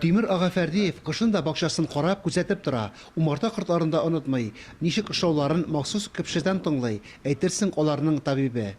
Тимер ага Фәрдиев кышын да бакчасын карап, күзәтеп тора, умарта кортларын да онытмый, ничек эшлауларын махсус кпшедән тыңлый, әйтерсең аларның табибе.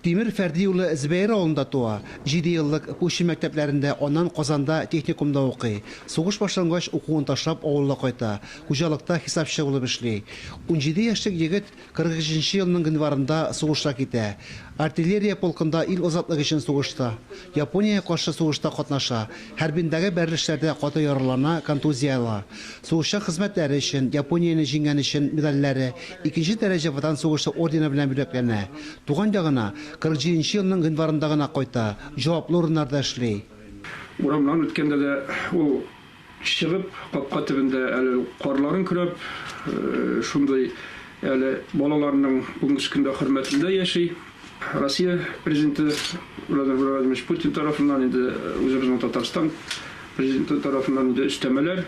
Тимер Фәрди улы Зөбәер авылында туа, җиде еллык Кучы мәктәпләрендә, аннан Казанда техникумда укый. Сугыш башлангач, укуын ташлап, авылга кайта, хуҗалыкта хисапчы булып эшли. Унҗиде яшьлек егет 43 нче елның гыйнварында сугышка китә. Артиллерия полкында ил азатлыгы өчен сугышта. Япониягә каршы сугышта катнаша, хәрбиндәге бәрелешләрдә каты яралана, контузия ала. Сугышчан хезмәтләре өчен, Японияне җиңгән өчен медальләре, икенче дәрәҗә Ватан сугышы ордены белән бүләкләнә. Туган ягына, 47 нче елның гыйнварында гына кайта, җаваплы урыннарда эшли. Урамнан үткәндә дә ул Чыгып, капка төбендә әле карларын көрәп, шундый әле балаларының бүгенге көндә хөрмәтендә яши. Россия Президенты Владимир Владимирович Путин тарафыннан инде үзебезнең Татарстан Президенты тарафыннан инде өстәмәләр,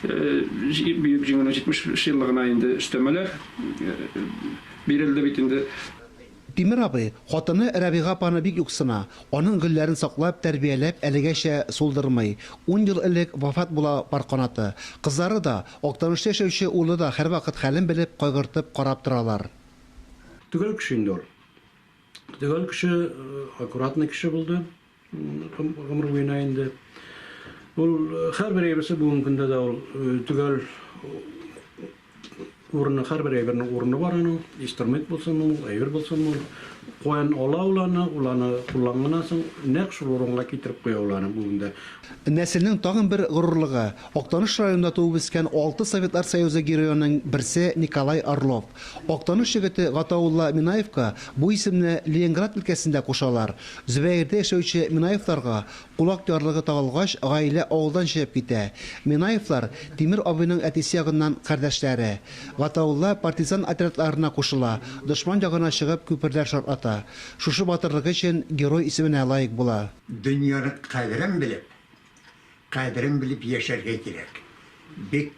Бөек Җиңүнең 70 еллыгына инде өстәмәләр бирелде бит инде. Тимер абый, хатыны Рәбига апаны бик юксына, аның гөлләрен саклап, тәрбияләп, әлегәчә сулдырмый. Ун ел элек вафат була пар канаты. Кызлары да, Актанышта яшәүче улы да һәрвакыт хәлен белеп, кайгыртып карап торалар. Төгәл кеше инде ул. Төгәл кеше, аккуратный кеше булды. Гомер буена инде ул һәрбер әйберсе бүгенге көндә дә ул төгәл урыны, һәрбер әйбернең урыны бар аның, инструмент булсын ул, әйбер булсын ул. Каян ала ул аны, ул аны кулланганнан соң нәкъ шул урынга китереп куя ул аны бүген дә. Нәселнең тагын бер горурлыгы, Актаныш районында туып-үскән алты Советлар Союзы героеның берсе Николай Орлов. Актаныш егете Гатаулла Минаевка бу исемне Ленинград өлкәсендә кушалар. Зөбәердә яшәүче Минаевларга кулак ярлыгы тагылгач, гаилә авылдан чыгып китә. Минаевлар Тимер абыйның әтисе ягыннан кардәшләре. Гатаулла партизан отрядларына кушыла, дошман ягына чыгып күперләр шартлата. Шушы батырлыгы өчен Герой исеменә лаек була. Дөньяның кадерен белеп, кадерен белеп яшәргә кирәк. Бик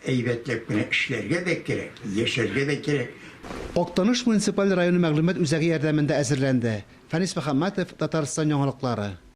Әйбәтләп кенә эшләргә дә кирәк, яшәргә дә кирәк. Актаныш муниципаль районы мәгълүмат үзәге ярдәмендә әзерләнде. Фәнис Мөхәммәтов, Татарстан яңалыклары.